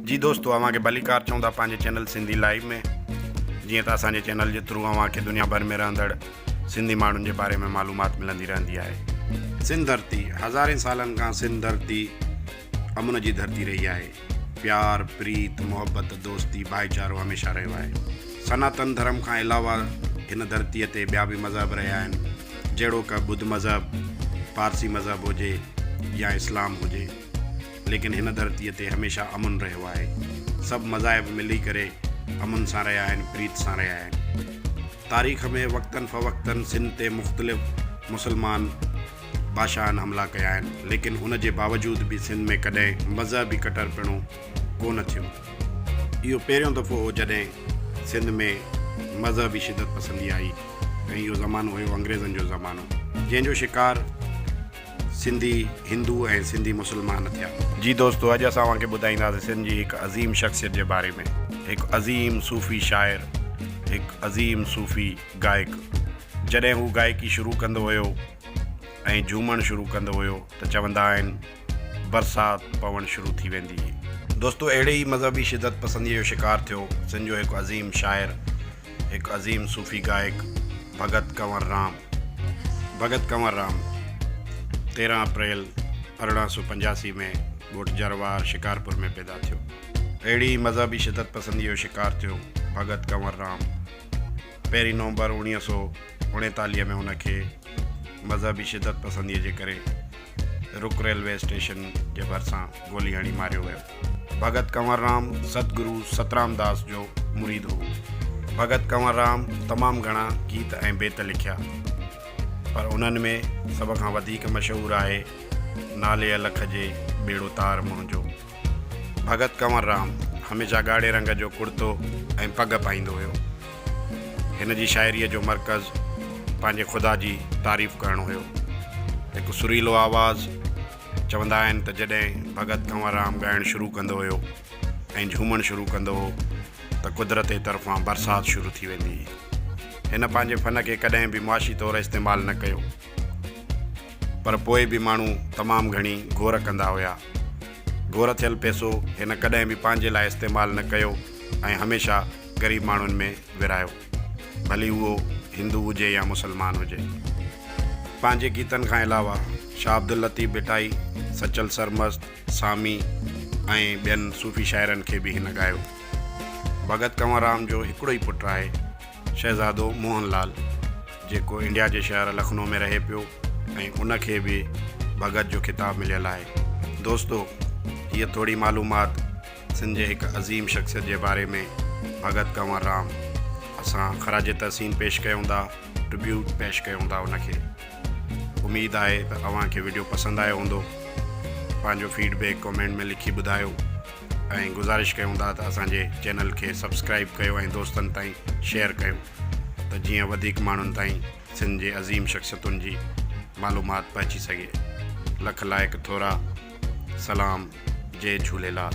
جي دوستو اوهان کي ڀليڪار چئون ٿا پنهنجي چينل سنڌي لائيو ۾ جيئن ته اسان جي چينل جي ٿرو اوهان کي دنيا ڀر ۾ رهندڙ سنڌي ماڻهن جي باري ۾ معلومات ملندي رهندي آهي سنڌ ڌرتي هزارين سالن کان سنڌ ڌرتي امن جي ڌرتي رهي آهي پيار پريت محبت دوستي ڀائيچارو هميشه رهيو آهي سناتن ڌرم کان علاوه هن ڌرتي تي ٻيا به مذهب رهيا آهن جهڙوڪ ٻڌ مذهب پارسي مذهب هجي يا اسلام هجي ليڪن هن ڌرتيء تي هميشه امن رهيو آهي. سڀ مذاهب ملي ڪري امن سان رهيا آهن، پريت سان رهيا آهن. تاريخ ۾ وقتن فوقتاً سنڌ تي مختلف مسلمان بادشاهن حملا ڪيا آهن، ليڪن ان جي باوجود به سنڌ ۾ ڪڏهن مذهبي ڪٽرپڻو ڪو نه ٿيو. اهو پهريون دفعو هو جڏهن سنڌ ۾ مذهبي شدت پسندي آئي ۽ اهو زمانو هيو انگريزن جو زمانو، جنهن جو شڪار. سنڌي هندو ۽ سنڌي مسلمان ٿيا. جي دوستو اڄ اسان اوهان کي ٻڌائينداسين سنڌ جي هڪ عظيم شخصيت جي باري ۾ هڪ عظيم صوفي شاعر هڪ عظيم صوفي گائڪ جڏهن هو گائڪي شروع ڪندو هيو ۽ جهومڻ شروع ڪندو هيو ته چوندا آهن برسات پوڻ شروع ٿي ويندي هئي. دوستو اهڙي ئي مذهبي شدت پسنديء جو شڪار ٿيو سنڌ جو هڪ عظيم شاعر. هڪ عظيم صوفي گائڪ Bhagat Kanwar Ram, Bhagat Kanwar Ram، تيرهن اپريل ارڙهن سؤ پنجاسي ۾ ڳوٺ جروار، شڪارپور ۾ پيدا ٿيو. اهڙي ئي مذهبي شدت پسنديء جو شڪار ٿيو ڀڳت ڪنور رام. پهرين نومبر اوڻيهه سؤ اڻيتاليهه ۾ هن کي مذهبي شدت پسنديء جي ڪري رڪ ريلوي اسٽيشن جي ڀرسان گولي هڻي ماريو ويو. ڀڳت ڪنور رام ستگرو سترام داس جو مريد هو. ڀڳت ڪنور رام تمام گهڻا گيت ۽ بيت لکيا پر انهن ۾ سڀ کان وڌيڪ مشهور آهي نالي الخ جي ٻيڙو تار منهنجو. ڀڳت ڪنور رام هميشه ڳاڙهي رنگ جو ڪڙتو ۽ پڳ پائيندو هيو. هن جي شاعريء جو مرڪز پنهنجي خدا جي تعريف ڪرڻ هيو. هڪ سريلو آواز. چوندا آهن ته جڏهن ڀڳت ڪنوررام ڳائڻ شروع ڪندو هيو ۽ جهومڻ شروع ڪندو هو ته قدرت ئي طرفان برسات شروع ٿي ويندي هئي. هن پنهنجي فن کي ڪڏهن به معاشي طور استعمال نه ڪيو پر پوء به ماڻهو تمام گهڻي گهور ڪندا هيا. گهور ٿيل پيسو هن ڪڏهن به پنهنجي لاء استعمال نه ڪيو ۽ هميشه غريب ماڻهن ۾ ورهايو. ڀلي اهو هندو هجي يا مسلمان هجي. پنهنجي گيتن کان علاوه شاهه عبداللطيف ڀٽائي، سچل سرمست، سامي ۽ ٻين صوفي شاعرن کي به هن ڳايو. ڀڳت ڪنوررام جو هڪڙو ئي پٽ آهي شهزادو موهن لال جيڪو انڊيا جي شهر لکنو ۾ رهي پيو ۽ ان کي به ڀڳت جو خطاب مليل آهي. دوستو هيء ٿوري معلومات سنڌ جي هڪ عظيم شخصيت جي باري ۾ ڀڳت ڪنور رام اسان خراج تحسين پيش ڪيون ٿا ٽربيوٽ پيش ڪيون ٿا ان کي اميد آهي ته اوهان کي ويڊيو پسند آيو هوندو پنهنجو فيڊبيڪ ڪمينٽ ۾ لکي ٻڌايو ۽ گزارش ڪيون ٿا ته اسانجي چينل کي سبسڪرائب ڪيو ۽ دوستن تائين شيئر ڪيو ته جيئن وڌيڪ ماڻهن تائين سنڌ جي عظيم شخصيتن جي معلومات پهچي سگهي لک لائق ٿورا سلام جي جهوليلال.